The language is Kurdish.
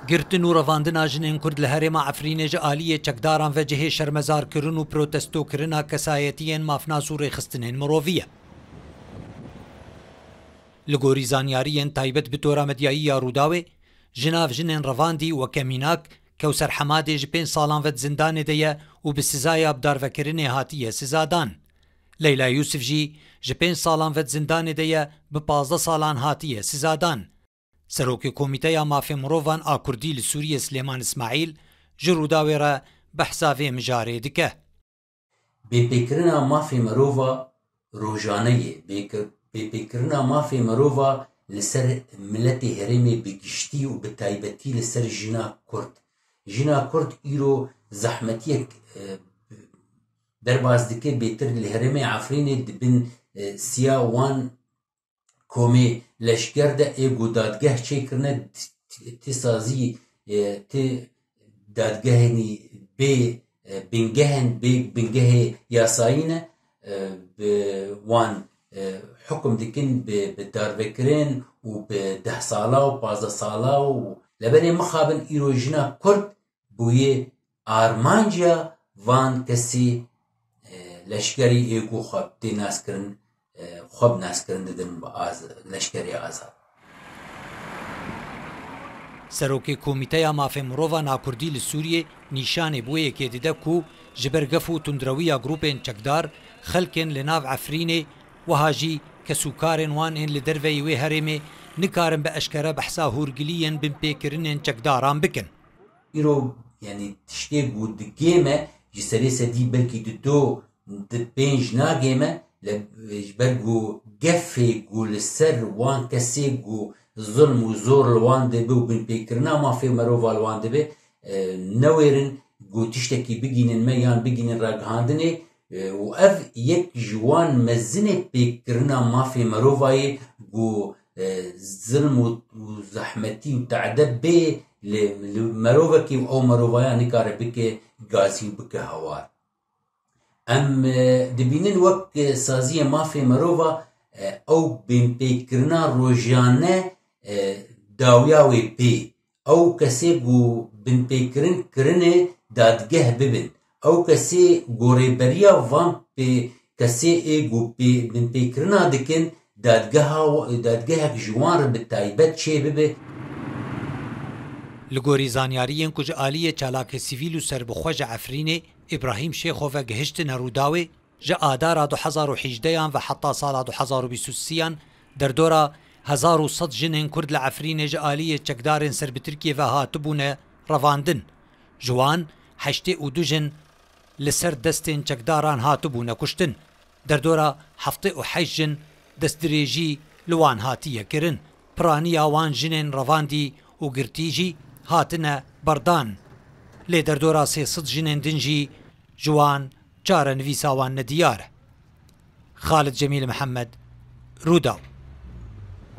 Girtin û revandina jinên Kurd li herêma Efrînê ji aliyê çekdaran ve cihê şermezarkirin û protestokirina kesayetiyên mafnas û rêxistinên mirovî ye. Li gorî zanyariyên taybet bi tora medyayî ya Rûdawê, ji nav jinên revandî weke mînak, Kewser Hemadê ji pênc salan ve di zindanê de ye û bi sizaya bidarvekirinê hatiye sizadan. Leyla Yûsif jî ji pênc salan ve di zindanê de ye, bi pazdeh salan hatiye sizadan. Serokê Komîteya Mafê Mirovan a Kurdî li Sûriyê Silêman Îsmaîl ji Rûdawê re behsa vê mijarê dike. Bêpêkirina mafê mirova rojane ye. Bêpêkirina mafê mirova li ser miletê herêmê bi giştî û bi taybetî li ser jina kurd. Jina kurd îro zehmetiyek bi. Derbas dike bêtir li herêmê Efrînê di bin siya wan komê leşger de ê ku dadgeh çêkirine ti sazî ti dadgehênî bê bingehên bê bingehê yasayî ne bi wan hukum dikin bi darvekirin û bi deh sala û pazdeh sala û leberê mixabin îro jina kurd bûye armancîya van kesî leşkerî yê ku xwe tê naskirin xwe bi naskirin didin bi leşkerê azad. Serokê Komîteya Mafê Mirovan a Kurdî li Sûriyê nîşanê bi wê yekê dide ku ji ber gef û tundrewiya grûpên çekdar, xelkên li nav Efrînê wiha jî kesûkarên wan ên li derveyî wê herêmê nikarin bi eşkere behsa hûrgiliyên binpêkirinên çekdaran bikin. Îro yanî tiştê ku digême ji serê sedî belkî di do di pênc nagême li ji ber ku gefê ku li ser wan kesê ku zilm û zor li wan dibe û binpêkirina mafê merova li wan dibe newêrin ku tiştekî bigînin me yan bigînin ragihandinê Û ev yek ji wan mezinê pêkkirina mafê merova ye ku zilm û zehmetî û te'de bê li merovekê û ew merovaya nikare bike gazî û bike hawar. Em dibînin wek saziyê mafê merova ew binpêkkirina rojane dawiya wê pê ew kesê ku binpêkirin kirine dadgeh bibin. Ew kesê ku rêberiya van kesê ê ku binpêkirina dikin dadgehek ji wan re bi taybet çêbibe. Li gorî zanyariyên ku ji aliyê çalakê sivîl û serbixwe ji Efrînê Îbrahîm Şêxo ve gihiştine Rûdawê, Ji adara du hezar û hîjdeh an ve heta sala du hezar û bîst û sî an derdora hezar û sed jinên Kurd li Efrînê ji aliyê çekdarên ser bi Tirkiyê ve hatibûne revandin. Ji wan heştê û du jin li ser destên çekdaran hatibûne kuştin. Derdora heftê û heşt jin destdirêjî li wan hatiye kirin. Piraniya wan jinên revandî û girtî jî hatine berdan. Lê derdora sê sed jinên din jî ji wan Çarenivîsa wan nediyar e. Xalid Cemîl Mihemed, Rûdaw.